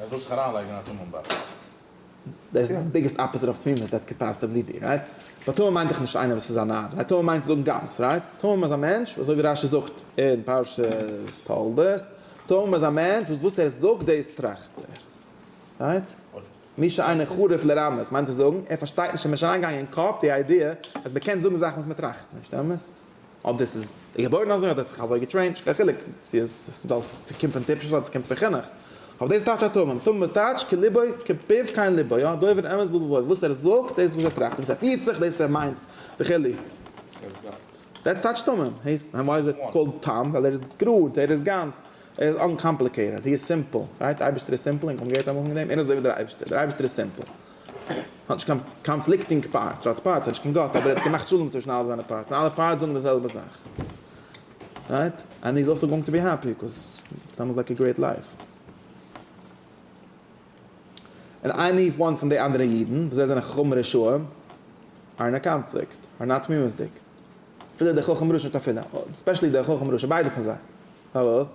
ער וויל זיך אריינלייגן אין א טמא'ן באקס. דאס איז די ביגעסט אפאזיט אויף תמימות דעט קען פאסיבלי בי רייט. ווייל תמים מיינט דאך נישט איינער וואס איז א נאר, א תמים מיינט זאגן גאנץ רייט. תמים איז א מענטש אזוי ווי רשי זאגט אין פרשת תולדות, תמים איז א מענטש וואס וואס ער זאגט דאס טראכט ער. רייט? מי שאינו חריף לרמות מיינט צו זאגן ער פארשטייט נישט, אים איז נישט אריינגעגאנגען אין קאפ די איידיע אז מען קען זאגן זאכן וואס מען טראכט נישט, אמת? אויב דאס איז געבוירן אזוי אדער האט זיך אזוי געטרעינט, נישט קיין חילוק צו עס איז ווייל עס קומט פון טיפשות אדער עס קומט פון חינוך. אבער דאס טייטשט א תמים. תמים איז טייטש כלבו כפיו כן לבו, יא, דובר אמת בלבו, וואס ער זאגט, דאס איז וואס ער טראכט, וואס ער פירט זיך, דאס איז וואס ער מיינט, וכו'. דעטס טייטש תמים. הייסט, וואי איז איט קאלד תם? ווייל ער איז גראד, ער איז גאנץ, ער איז אנקאמפליקעיטעד, הי איז סימפל, רייט? אייבערשטער איז סימפל, און כמעט יעדער האט אנגעהויבן מיט דעם, ער איז אזוי ווי דער אייבערשטער, דער אייבערשטער איז סימפל. האט נישט קיין קאנפליקטינג פארטס, טראץ פארטס איז נישט קיין גאט אבער ער האט געמאכט שלום צווישן אלע זיינע פארטס און אלע פארטס זאגן די זעלבע זאך רייט ענד איז אלסא גאוינג טו בי העפי קאז סתם איז לייק א גרעיט לייף. און עני וואן פון די אנדערע אידן וואס זיי זענען חכמים רשעים אר אין א קאנפליקט אר נאר תמימות'דיג אפילו דער חכם רשע נישט אפילו ספעשעלי דער חכם רשע ביידע פון זיי פארוואס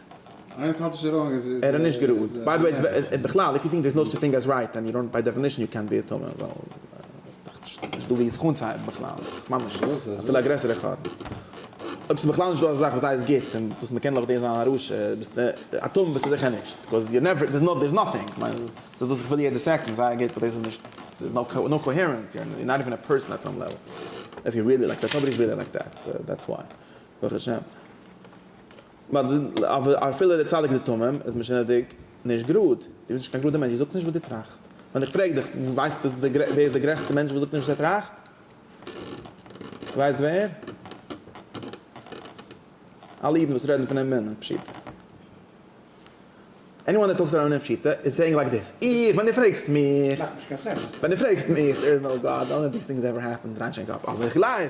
ער איז נישט גראד. ביי די וועי, און בכלל איף יו טינק דער איז נאו סטשע טינג עז רייט ענד ראנג ביי דעפינישן יו קענט בי א טמא ווייל ס'איז דאך נישט דא ווי עס אנצוהייבן בכלל איז דאך ממש אפילו א גרעסערע חרבן. אויב ס'איז בכלל נישט דא אזא זאך וואס הייסט גוט און וואס מ'קען לויט דעם זיין א רשע ביסטו א טמא ביסטו זיכער נישט בקאוז יו נעווער דער'ס דער'ס נאטינג כ'מיין ס'איז וואס כ'וויל יעדע סעקאנד זייער גוט באט דאס איז נישט דער'ס נאו קאוהערענס יו אר נאט איווען א פערסאן עט סאם לעוועל איף יו ריעלי לייק דעט נאבאדי איז ריעלי לייק דעט דעטס וויי ברוך השם. אבער אפילו דער צדיק די תמים איז משונה'דיג נישט גראד, דו ביסט נישט קיין גראדער מענטש, דו זאגסט נישט וואס דו טראכסט. ווען איך פרעג דיך, ווייסט וואס די, ווער איז דער גרעסטער מענטש וואס זאגט נישט וואס ער טראכט? דו ווייסט ווער? אלע אידן וואס רעדן פון אים אינעם פשוטו. עניוואן דעט טאלקס אראונד אינעם פשוטו איז סעיאינג לייק דיס, איך, ווען דו פרעגסט מיך, ווען דו פרעגסט מיך, דער איז נאו גאד, די אנלי טינג סינג איז עווער העפענד, ריין שיין קאפ, אבער איך גלייב.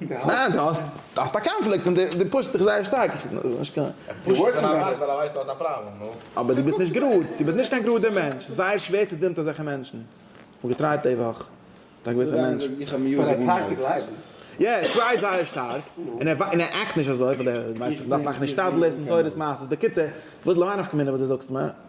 ניין, דו האסט א קאנפליקט און דו פושסט דיך זייער שטארק. איך זע נישט קיין. ער פושט זיך פון א פלאץ ווייל ער ווייסט ער האט א פראבלעם, נו. אבער דו ביסט נישט גראד, דו ביסט נישט קיין גראדער מענטש, זייער שווער צו דינען אזעלכע מענטשן. איך האב געטרייט די וואך מיט א געוויסע מענטש. איך האב מיוזיק אן נאוטס. יא, ער טרייט זייער שטארק, און ער עקט נישט אזוי, ווייל ער ווייסט איך דארף מאכן השתדלות און תורת מעשיות, בקיצור, וואס למאי נפקא מינה וואס דו זאגסט מיר?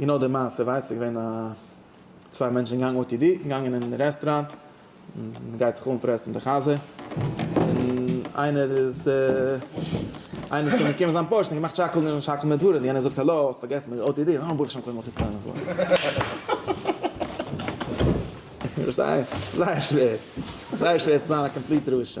און נאך די מעשה ווייסט איך געווען א צוויי מענטשן געגאנגען או טי די און געגאנגען אין רעסטראנט און גייט זיך אנפרעסן די חזה און איינער איז איינער איז צום געקומען זיין פארשט און געמאכט שאקלן און שאקלן מיט ווארען יענער זאגט האלא האסט פארגעסן די או טי די אה ברוך שם כלומר איך טענה'ן פאר פארשטייסט? ס'איז זייער שווער זייער שווער צו זיין א קאמפליט רשע.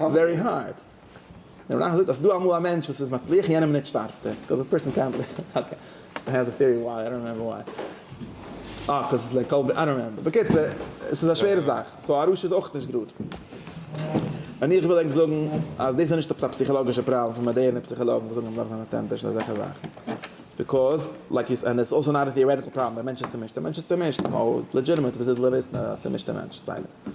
ווערי הארד. דער מנח זאגט אז ס'דא אמאל א מענטש וואס איז מצליח יענעם מינוט שטארבט ער. ביקאוז א פערסאן קענט ליוו אקעי. אי העז א טעארי וויי איי דאנט רימעמבער וויי. אה ביקאוז ס'איז לייק קאלווין איי דאנט רימעמבער. בקיצור ס'איז א שווערע זאך. סאו א רשע איז אויך נישט גראד. און איך וויל ענק זאגן אז דאס איז נישט עפעס א פסיכאלאגישע פראבלעם פון מאדערנע פסיכאלאגן וואס זאגן אז מ'דארף זיין אטענטיש און אזעלכע זאכן. ביקאוז לייק יו סעד און עס איז אלסא נאט א טעארעטיקל פראבלעם. דער מענטש איז צומישט. דער מענטש איז צומישט. סאו איטס לעדזשיטעמעט וואס איז לויט וויסן א צומישטע מענטש. סיי ווי.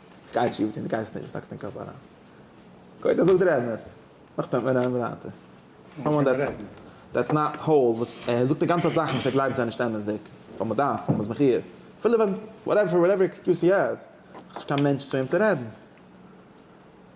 גייט שיף, די גייסט נישט, האקסט אין קאפ אריין. גוט, ער זאגט דיר אמת. נאכדעם ווען רעדן ווייטער. סאמהאו דעטס נאט האול וואס ער זאגט די גאנצע צייט זאכן וואס ער גלייבט זענען נישט אמת'דיג, ווייל מען דארף, ווייל מען איז מחויב. אפילו ווען, וואטעווער עקסקיוז הי העז, האט נישט קיין מענטש צו אים צו רעדן.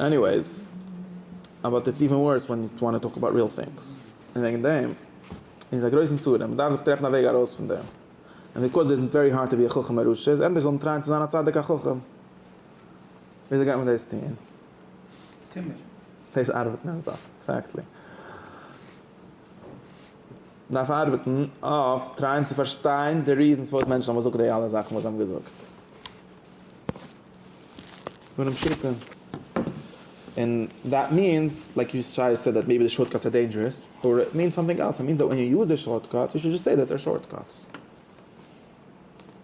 עניוועיס, אבאוט איטס איווען ווארס ווען יו וואנט טו טאלק אבאוט ריעל טינגס, און וועגן דעם איז א גרויסן צרה, מען דארף זיך טרעפן א וועג ארויס פון דעם, און ביקאוז דער איזנט ווערי הארד טו בי א חכם א רשע איז ענדערש זאל מען טרייען צו זיין א צדיק א חכם, וויאזוי גייט מען דאס טון? טומער. דאס ארבעט נעמט זיך, עקזעקטלי. מען דארף ארבעטן אויף טרייען צו פארשטיין די ריזענס פארוואס מענטשן האבן געזאגט די אלע זאכן וואס זיי האבן געזאגט. פונעם פשוטע און דעט מיענס לייק יו שי סעד דעט מעיבי די שארטקאטס אר דעינדזשערעס אר איט מיענס סאמטינג עלס איט מיענס דעט ווען יו יוז די שארטקאטס יו שוד דזשאסט סעי דעט זיי אר שארטקאטס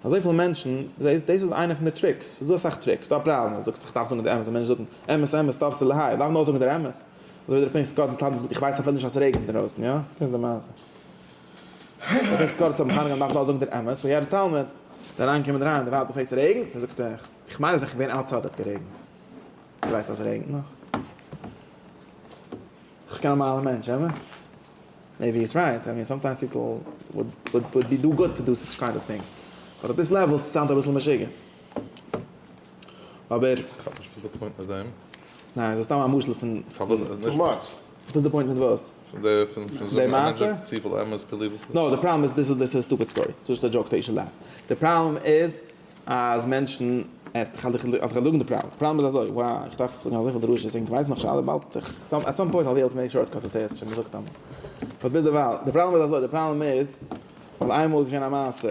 אזויפיל מענטשן זעהסט דאס איז איינע פון די טריקס ס'איז דא אסאך טריקס ס'איז דא א פראבלעם ווען זאגסט איך דארף זאגן די אמת און מענטשן זאגן אמת אמת טוב ס'איז להאי דארף מען אויך זאגן דער אמת אזוי ווי דער פרינץ גאט זאגט איך ווייס אפילו נישט אז ס'רעגנט אינדרויסן יא דאס איז די מעשה. איך קורץ האבן חנוכה נאכט לאזונג דער אמת פון יעדער תלמיד דער אריין קומענד אריין דער ווייב האט געפרעגט צו רעגנט ער זאגט איך איך מיין אז איך געווען אוטסייד האט גערעגנט דו ווייסט אז ס'רעגנט נאך? איך קיין נארמאלער מענטש אמת? מעיבי איז רייט איי מין סאמטיימס פיפל וואלד וואלד בי דא גוד טו דא סאטש קיינד אוו טינגס באט אט דיס לעוועל סאונד אביסל משוגע אבער איך האב נישט וויאזוי קומט מען צו דעם. ניין ס'איז סתם א משל פון. פארוואס? וואס איז די פוינט מיט וואס? פון די פון פון זאגן א מענטש זאגט צופיל אמת צו ליב עס נישט. נאו די פראבלעם איז דיס איז א סטופיד סטארי סאיז נישט א דזשאוק טעי שוד לאף די פראבלעם איז אז מענטשן איך האלט איך האלט דא די פראבלעם די פראבלעם איז אזוי וואו איך דארף זאגן אזויפיל דרשות און כווייס נאך נישט אלע באלד איך סאם עט סאם פוינט אויל בי עיבל טו מעיק שארט קאזי סעי עס שוין געזאגט אמאל באט ביז דערווייל די פראבלעם איז אזוי די פראבלעם איז אז איינמאל איז געשען א מעשה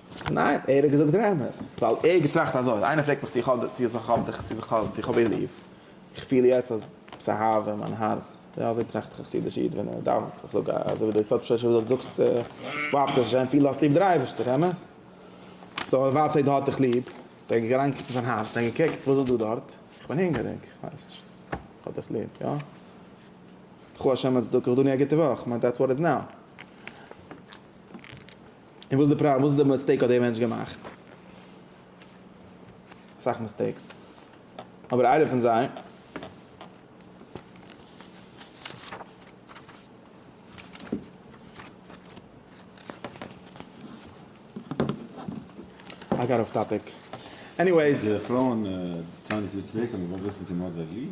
ניין, ער האט געזאגט דער אמת, ווייל ער האט געטראכט אזוי, אז איינער פרעגט מיך צו איך האב דיך צו איך האב דיר ליב, איך פיל יעצט אז עפעס א אהבה אין מיין הארץ, יא אזוי טראכט א חסידישע איד ווען ער דאווענט, איך זאג אזוי ווי דער סאטמארשע רבי זאגט, זאגסט דו אהבסט השם פיל האסטו ליב דער אייבערשטער, אמת? סאו ער ווייזט אויב דו האט דיך ליב, האט ער אריינגעקוקט אין זיין הארץ און געקוקט וואס איז דא דארט, איך בין הונגעריג, איך ווייס נישט, איך האב דיך ליב, יא? קחו השם לצדקך דאן יא גוטע וואך, מיין דעטס וואט איטס נאו. און וואס איז די פראבלעם? וואס איז די מיסטעיק האט דער מענטש געמאכט? אסאך מיסטעיקס. אבער איינע פון זיי. איי גאט אףף טאפיק. עניוועיס. די פרויען טענה'ן טאמער צו צוויי קינדער, מ'וויל וויסן צו מ'האט זיי ליב.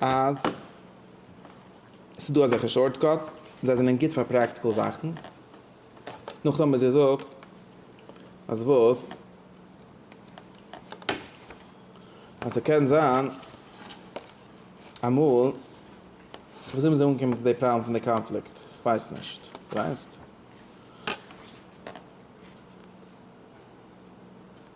אז ס'איז דא אזעלכע שארטקאטס און זיי זענען גוט פאר פראקטיקל זאכן, נאכדעם וואס זי זאגט אז וואס? אז ס'קען זיין אמאל, וויאזוי מ'איז אנגעקומען צו די פראבלעם פון די קאנפליקט, כ'ווייס נישט, ווייסט?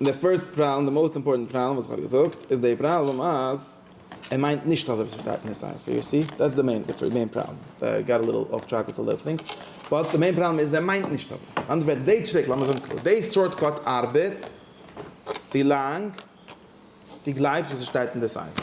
און די פירסט פראבלעם, די מאוסט אימפארטענט פראבלעם וואס איך האב געזאגט, איז די פראבלעם אז ער מיינט נישט אזוי ווי עס שטייט אין די ספר, יו סי? דעטס די מעין פראבלעם, איי גאט א ליטעל אףף טרעק וויט אזא טינגס, באט די מעין פראבלעם איז ער מיינט נישט אזוי. אין אנדערע ווערטער, די טריק, לאמיר זאגן קלאר, די שארטקאט ארבעט ווי לאנג דו גלייבסט וואס עס שטייט אין די ספר.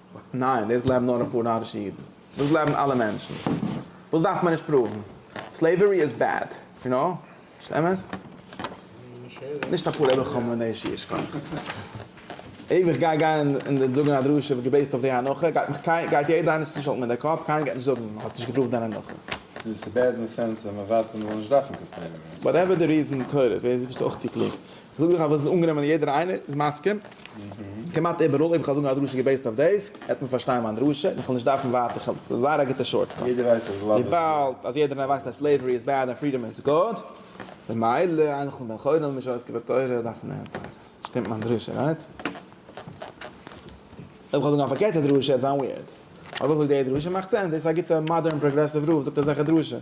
ניין, דאס גלייבן נאר אפאר נארישע אידן. דאס גלייבן אלע מענטשן. וואס דארף מען נישט פראוון? סלעיווערי איז בעד. יו נאו? נישט אמת? נישט א פלא איך האב מורא אישי ייש כ. אויב איך גיי גיין און זאגן א דרשה וואס געבעיסט אויף די הנחה גייט מיך קיין גייט יעדער איינער צושאקלן מיט די קאפ קיינער גייט נישט זאגן האסט נישט געפראווט דיין הנחה. דאס איז בעד אין די סענס אז מען ווארט אז מען זאל נישט דארפן קאנסטרעינען. וואטעווער די ריזען, תורות, ביסטו אויך צו קלוג. זאג איך אז וואס איז אנגענומען יעדער איינער איז מסכים, כמעט איבעראל, אויב איך וועל זאגן א דרשה געבעיסד אויף דעיס, וועט מען פארשטיין מיין דרשה, און איך וועל נישט דארפן ווייטער, כ'האב עס זייער א גוטע שארטקאט. יעדער ווייסט אז לאוו איז וויבאלד אז יעדער ווייסט אז סלעיווערי איז בעד און פרידאם איז גוד, ממילא איינער כ'בין בן חורין מי שעוסק בתורה דארף מען לערנען תורה. שטימט מיין דרשה, רייט? אויב כ'וועל זאגן א פארקערטע דרשה וועט זיין וויערד. אויב איך זאג די דרשה מאכט סענס, דאס איז א גוטע מאדערן פראגרעסיוו רב זאגט אזעלכע דרשות.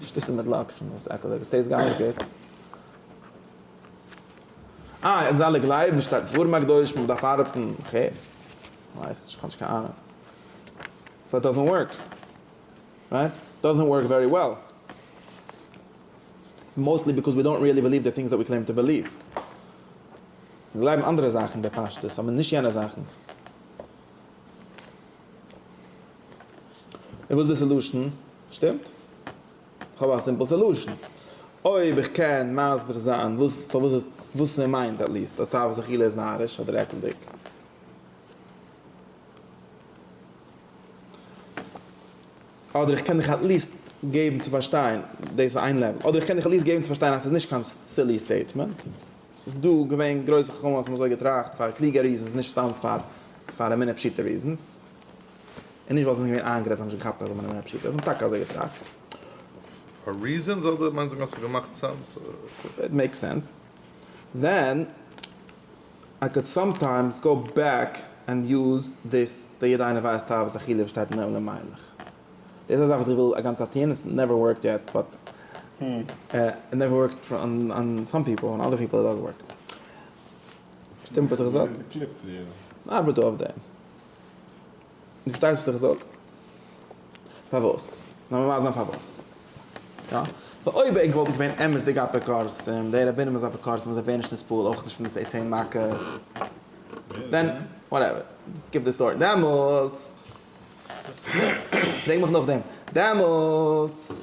נישט דאס איז מיט לאקשן דאס עקעלדיגע עס טעיסט גאנץ גוט. אה אונז אלע גלייבן שטארק ספרים הקדושים מען דארף ארבעטן וכו' כ'ווייס נישט כ'האב נישט קיין אהנונג סאו איט דאזענט ווארק רייט? איט דאזענט ווארק ווערי וועל מאוסטלי ביקאוז ווי דאנט ריעלי בעליוו די טינגס דעט ווי קלעים טו בעליוו מיר גלייבן אנדערע זאכן בפשטות אבער נישט יענע זאכן. און וואס איז די סעלושען? שטימט? כ'האב א סימפל סעלושען. אויב איך קען מסביר זיין וואס פארוואס איז וואס ער מיינט עט ליעסט אז תאוות אכילה איז נאריש אדער עקלדיג. אדער איך קען דיך עט ליעסט געבן צו פארשטיין, דאס איז איין לעוועל. אדער איך קען דיך עט ליעסט געבן צו פארשטיין אז ס'איז נישט קיין סילי סטעיטמענט. ס'איז דא געווען גרויסע חכמים וואס האבן אזוי געטראכט פאר קלוגע ריזענס נישט סתם פאר פאר אמונה פשוטה ריזענס. און נישט ווייל זיי זענען געווען איינגערעדט זיי האבן נישט געכאפט אז אמונה איז פשוטה זיי האבן טאקע אזוי געטראכט. פאר ריזענס אדער מיינסט וועגן אז ס'האט געמאכט סענס? איט מעיקס סענס ווען איי קאלד סאמטיימס גאו בעק ענד יוז דיס די יעדע איינער ווייסט אהבת אכילה וואס שטייט אין עולם מיילעך. דאס איז א זאך וואס איך וויל א גאנצע צייט טוען, איטס נעווער ווארקט יעט באט איט נעווער ווארקט אן סאם פיפל, אן אדער פיפל איט דאזענט ווארק. שטימט וואס איך זאג? ארבעט דא אויף דעם. דו פארשטייסט וואס איך זאג? פארוואס? לאמיר ווייזן א פארוואס. יא. ווייל אויב ענק וואלטן געווען אמת'דיגע אפיקורסים, די רבנים איז אפיקורסים וואס זיי ווערן נישט נספול אויך נישט פון די צען מכות, דען וואטעווער, סקיפ די סטארי, דעמאלטס, פרעג מיך נאכדעם. דעמאלטס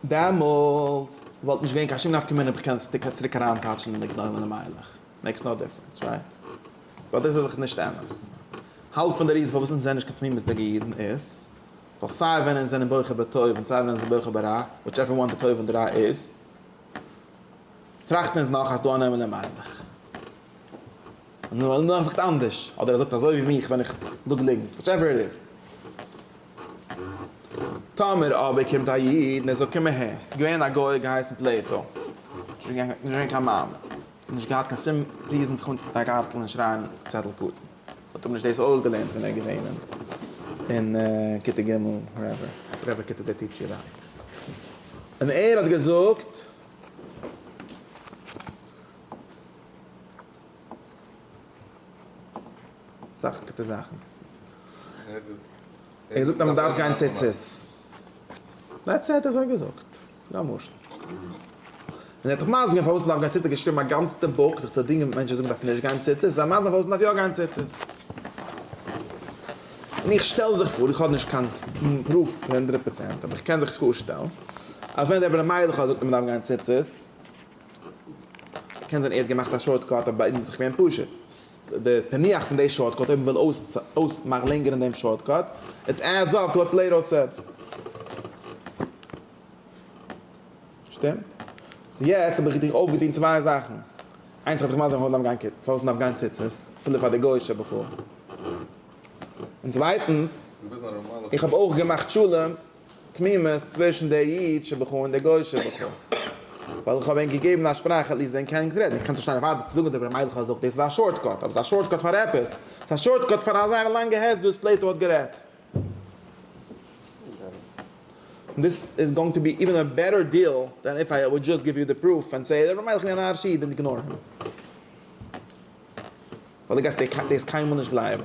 דעמאלטס וואלט נישט געווען קיין שום נפקא מינה אויב כ'קען עס טאקע צוריק אריינטייטשן אין די גדולים למהלך. מעיקס נאו דיפרענס, רייט? באט דאס איז דאך נישט אמת. האלב פון די ריזן פארוואס אונז זענען נישט קיין תמימות'דיגע אידן איז ווייל סיי ווען אונז זענען בוחר בטוב און סיי ווען אונז זענען בוחר ברע, וויטשעווער וואן די טוב און די רע איז, טראכטן אונז נאך אז ס'דא אן עולם למהלך. נאר ער זאגט אנדערש, אדער ער זאגט אזוי ווי מיך ווען איך זאג ליגנט, וואטעווער איט איז. טאמער אבער קומט א איד און ער זאגט קום אהער, ס'איז געווען א גוי געהייסן פלעטא, נישט געווען קיין מאמין, נישט געהאט קיין שום ריזן זיך אנצוטון א גארטל און שרייען צעטל קטן, האט אים נישט דאס אויסגעלערנט ווען ער איז געווען אין כיתה ג' וואטעווער, וואטעווער כיתה דער טיטשער דארט. און ער האט געזאגט. אסאך גוטע זאכן. ער זאגט אז מען דארף גיין ציצית. דעטס איט, אזוי געזאגט. ס'איז א משל. און ער האט דאך מסביר געווען פארוואס מען דארף גיין ציצית, געשריבן א גאנצטע בוק זיך צו דינגען מיט מענטשן וואס זאגן מען דארף נישט גיין ציצית, איז א מסביר פארוואס מען דארף יא גיין ציצית. און איך שטעל זיך פאר, איך האב נישט קיין פרוף פון הונדרעט פראצענט, אבער איך קען זיך פארשטעלן, אז ווען דער בר מיידלעך האט געזאגט אז מען דארף גיין ציצית, קען זיין ער האט געמאכט א שארטקאט אבער ביי אונז איז דאך געווען פשוט. די פענוח פון די שארטקאט אויב מ'וויל אויספארלענגערן דעם שארטקאט, איט עדס אפ טו א פלעטאו סעט. שטימט? סאו יעצט האב איך דיר אויפגעטון צוויי זאכן. איינס כ'וועל דיך מסביר פארוואס מ'דארף גיין פארוואס מ'דארף גיין ציצית, אפילו פאר די גוי'אישע בחורים. און צווייטנס, איך האב אויך געמאכט שלום תמימות צווישן דער אידישער בוכ ע און דער גויאישער בוכ ע, ווייל איך האב ענק געגעבן א שפראך עטליסט ווען קיינער נישט רעדט, איך קען נישט שטיין אויף ארבעט צו זאגן דברי מלך האט געזאגט, דאס איז א שארטקאט, אבער עס איז א שארטקאט פאר עפעס, עס איז א שארטקאט פאר א זייער לאנגע הסבר וואס פלעיטא האט גערעדט. און דאס איז גאוינג טו בי איווען א בעטער דיעל דען איף איי וואלד דזשאסט גיוו יו די פרוף ענד סעי דברי מלך איז אן אריש איד און איגנאר הים, ווייל דו גייסט דאס קיינמאל נישט גלייבן.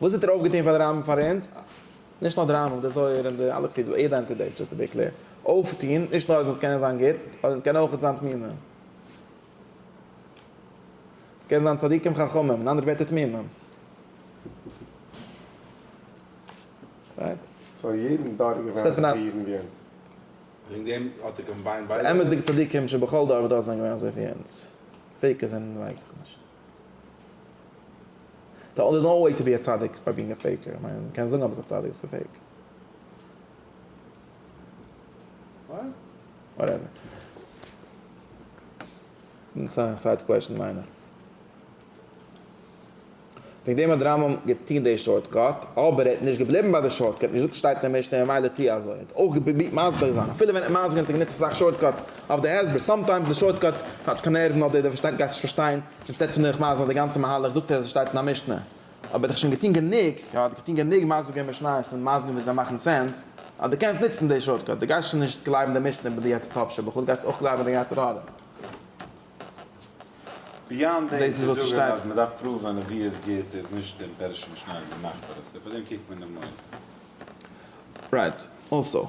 וואס האט ער אויפגעטון פאר די רמב ם פאר אונז? נישט נאר די רמב ם, די זוהר און די אלע חסידים, יעדע איינס פון די, דזשאסט טו בי קלעיר, אויפטון, נישט נאר אז אונז קענען זיין גוט, אבער אונז קענען אויכעט זיין תמימים. אונז קענען זיין צדיקים חכמים, אין אנדערע ווערטער תמימים. רייט? סאו יעדן דור איז געווען אזויפיל אידן ווי אונז? וועגן דעם האט ער קאמביינד ביידע? די אמת'דיגע צדיקים שבכל דור ודור זענען געווען אזויפיל ווי אונז? פעיקערס זענען ווייס איך נישט. די אנדערע נאו וועי טו בי א צדיק ביי בינג א פעיקער, איך מיין מ'קען זאגן אז ביסט א צדיק ביסט פעיק. וואטעווער. דאס איז א סייד קוועשאן מיין איך. וועגן דעם האט די רמב ם געטון די שארט קאט, אבער ער האט נישט געבליבן ביי די שארט קאט, נישט געזאגט ס'שטייט אין די משנה ממילא טוה אזוי, ער האט אויך געפרובירט מסביר זיין, אפילו ווען ער האט מסביר געווען האט ער גענוצט אסאך שארט קאטס, אויף די הסבר, סאמטיימס די שארטקאט כאטש קיין נערוון אדער דער פארשטייט גייסט נישט פארשטיין, אינסטעד פון דיך מסביר די גאנצע מהלך זאגט ער אז עס שטייט אין א משנה, אבער דיך שוין געטון גענוג, יא דיך געטון גענוג מסביר גיין משניות און מסביר ווי זיי מאכן סענס, אז די קענסט נוצן די שארטקאט, די גייסט שוין נישט גלייבן די משנה ביי די יצר טוב שבכול, גייסט אויך גלייבן די יצר הרע. ביאנד דעם צו זאגן אז מען דארף פראווען נביאות גוט איז נישט דעם פערש'ן משניות געמאכט פאר עס, און פאר דעם קוקט מען דעם מויל. רייט, אלסאו.